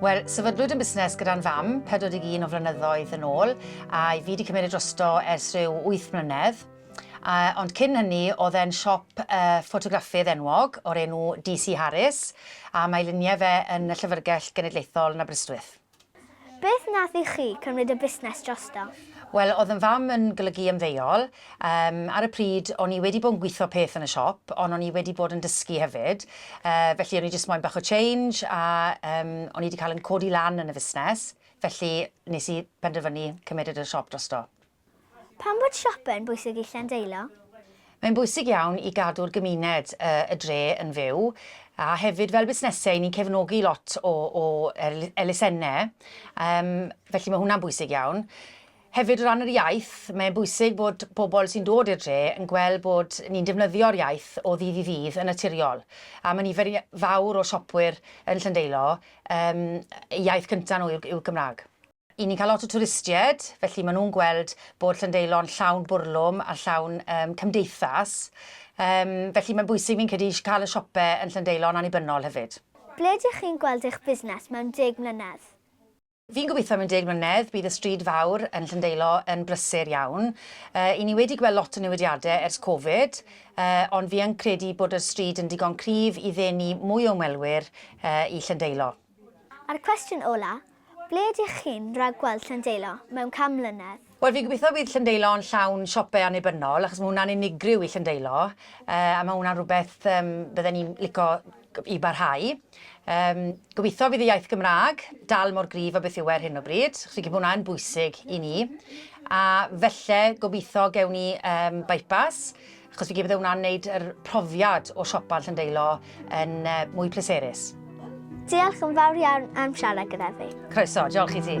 Wel, sefydlwyd yn busnes gyda'n fam 41 o flynyddoedd yn ôl, a i fi wedi cymryd e drosto ers rhyw 8 mlynedd. Uh, ond cyn hynny, oedd e'n siop uh, ffotograffydd enwog o'r enw DC Harris, a mae luniau fe yn y Llyfrgell Genedlaethol yn Aberystwyth. Beth nath i chi cymryd y busnes drosto? Wel, oedd yn fam yn golygu ymddeol, Yym, ar y pryd, o'n i wedi bod yn gwitho peth yn y siop, ond o'n i wedi bod yn dysgu hefyd. Yy, felly o'n i jyst moyn bach o change, a yym, o'n i 'di cael yn codi lan yn y fusnes, felly nes i penderfynu cymryd y siop drosto. Pam bod siope'n bwysig i Llandeilo? Mae'n bwysig iawn i gadw'r gymuned yy y dre yn fyw, a hefyd fel busnese 'yn ni'n cefnogi lot o o er- elusenau, yym, felly ma' hwnna'n bwysig iawn. Hefyd o ran yr iaith, mae'n bwysig bod pobl sy'n dod i'r dre yn gweld bod ni'n defnyddio'r iaith o ddydd i ddydd yn naturiol. A mae nifer fawr o siopwyr yn Llandeilo, yym, eu iaith cynta' nhw yw'r yw'r Gymraeg. Y' ni'n cael lot o twristied, felly maen nhw'n gweld bod Llandeilo'n llawn bwrlwm a llawn yym cymdeithas. Yym, felly mae'n bwysig fi'n credu i cael y siope yn Llandeilo'n annibynnol hefyd. Ble dych chi'n gweld eich busnes mewn deg mlynedd? Fi'n gobeithio mewn deg mlynedd bydd y stryd fawr yn Llyndeilo yn brysur iawn. I ni wedi gweld lot o newidiadau ers Covid, ond fi yn credu bod y stryd yn digon cryf i ddenu mwy o ymwelwyr i Llyndeilo. A'r cwestiwn ola, ble ydych chi'n rhagweld Llyndeilo mewn can mlynedd? Wel, fi'n gobeithio bydd Llandeilo yn llawn siopau annibynnol, achos mae hwnna'n unigryw i Llandeilo, a mae hwnna'n rhywbeth bydden ni'n licio i barhau. Gobeithio bydd y iaith Gymraeg dal mor gryf â beth yw e ar hyn o bryd, achos fi'n credu bod hwnna yn bwysig i ni. A falle, gobeithio, gewn ni bypass, Achos fi bydde hwnna'n neud yr profiad o siopa Llandeilo yn uh, mwy pleserus. Diolch yn fawr iawn am siarad gyda fi. Croeso, diolch i ti.